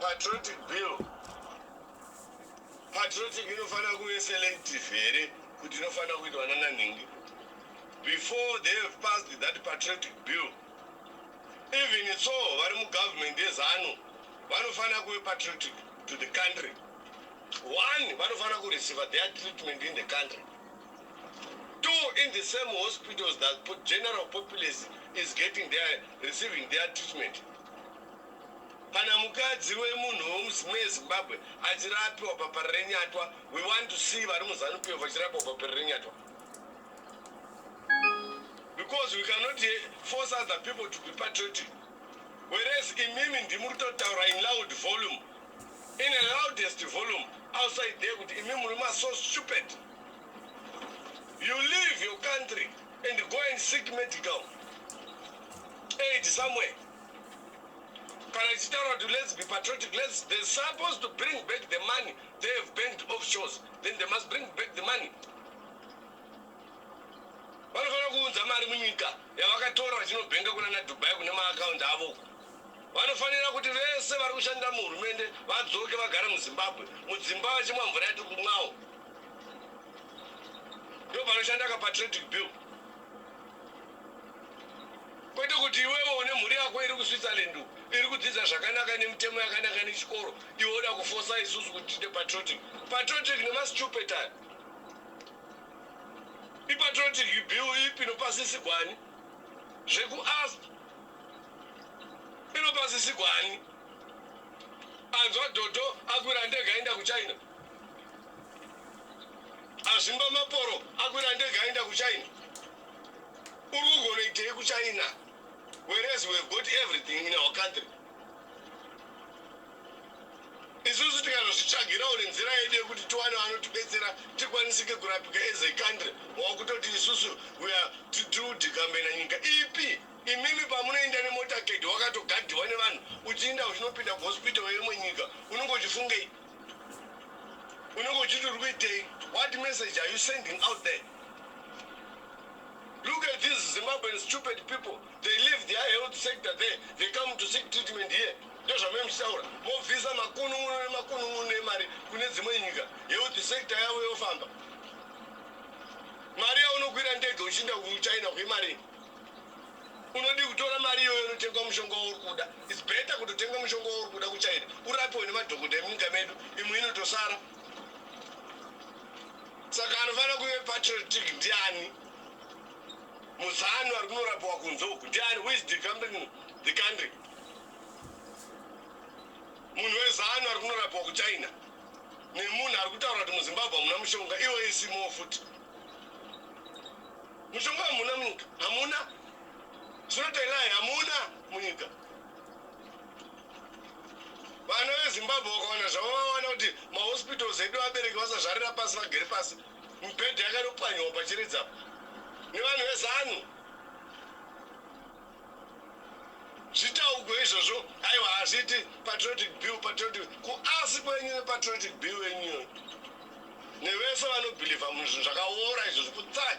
Patriotic bill. Patriotic inofanira kuve selective here kuti inofanira kuitwa nana nhingi. Before they have passed that patriotic bill. Even so vari mugovernment yezanu vanofanira kuve patriotic to the country. One vanofanira kureceiva their treatment in the country. Two in the same hospitals that general populace is getting their, receiving their treatment. Kana mukadzi wemunhu wemuZimbabwe achirapiwa paParirenyatwa, we want to see vari muZanu PF vachirapiwa paParirenyatwa. Because we cannot eh, force other people to be patriotic. Whereas imimi ndimuri kutotaura in loud volume in a loudest volume outside there kuti imi murume are so stupid you leave your country and go and seek medical aid somewhere kana ichitaura kuti let's be patriotic let's they're supposed to bring back the money they have banked offshores then they must bring back the money vanofanira kuunza mari munyika yavakatora vachinobhenga kuna nadubai kune maakaunti avo Vanofanira kuti vese vari kushandira muhurumende vadzoke vagare muZimbabwe mudzimba vachimwa mvura yatiri kumwawo. Ndopanoshandaka patradic bill. Kwete kuti iwewe une mhuri yako iri kuSwitzerland iri kudzidza zvakanaka nemitemo yakanaka nechikoro iwe oda kufosa isusu kuti tiite patriotic. Patriotic nemastupid aya. Ipatriotic bill ipi nopasisigwani zvekuasp inopasisigwa ani anzwa dhodho akwira ndege aenda kuchina azvimba maporo akwira ndege aenda kuchina uri kugonoitei kuchina whereas we have got everything in our country isusu tikazozvitsvagira or nzira yedu yekuti tiwane vanotibetsera tikwanisike kurapika as a country wakutoti isusu tiudikambena nyika ipi imimi pamunoenda nemotaked wakatogadiwa nevanhu uchiinda uchinopinda kuhospital yemwe nyika unenge uchifungei unenge uchiti uri kuitei what message are you sending out there look at these zimbabwean stupid people they leave their health sector there they come to seek treatment here Ndozvamunenge muchitaura mobvisa makunun'uno nemakunun'uno emari kune dzimwe nyika health sector yavo yofamba. Mari yaunokwira ndege uchiinda kuChina kwemarii? Unodii kutora mari iyoyo unotengwa mushonga wauri kuda? It's better kutotenga mushonga wauri kuda kuChina urapiwe nemadhokodha emunyika medu imwe inotosara. Saka anofanira kuve patriotic ndiani? Muzanu ari kunorapiwa kunze uku ndiani? Who is defending the country? munhu wezanu ari kunorapwa kuchina nemunhu ari kutaura kuti muzimbabwe hamuna mushonga iwo isimowo futi mushonga hamuna munyika hamuna zvinotailai hamuna munyika vana vezimbabwe vakawana zvavo vawana kuti mahospitals edu vabereki vasazvarira pasi vagere pasi mibhedha yakanopwanyiwa pachiridzapo nevanhu vezanu Zvitaugwe izvozvo aiwa hazviiti patriotic bill patriotic kuasi kwenyu nepatriotic bill yenyu iyoyo nevese vanobhilivha munhu zvinhu zvakaora izvozvo kutsag.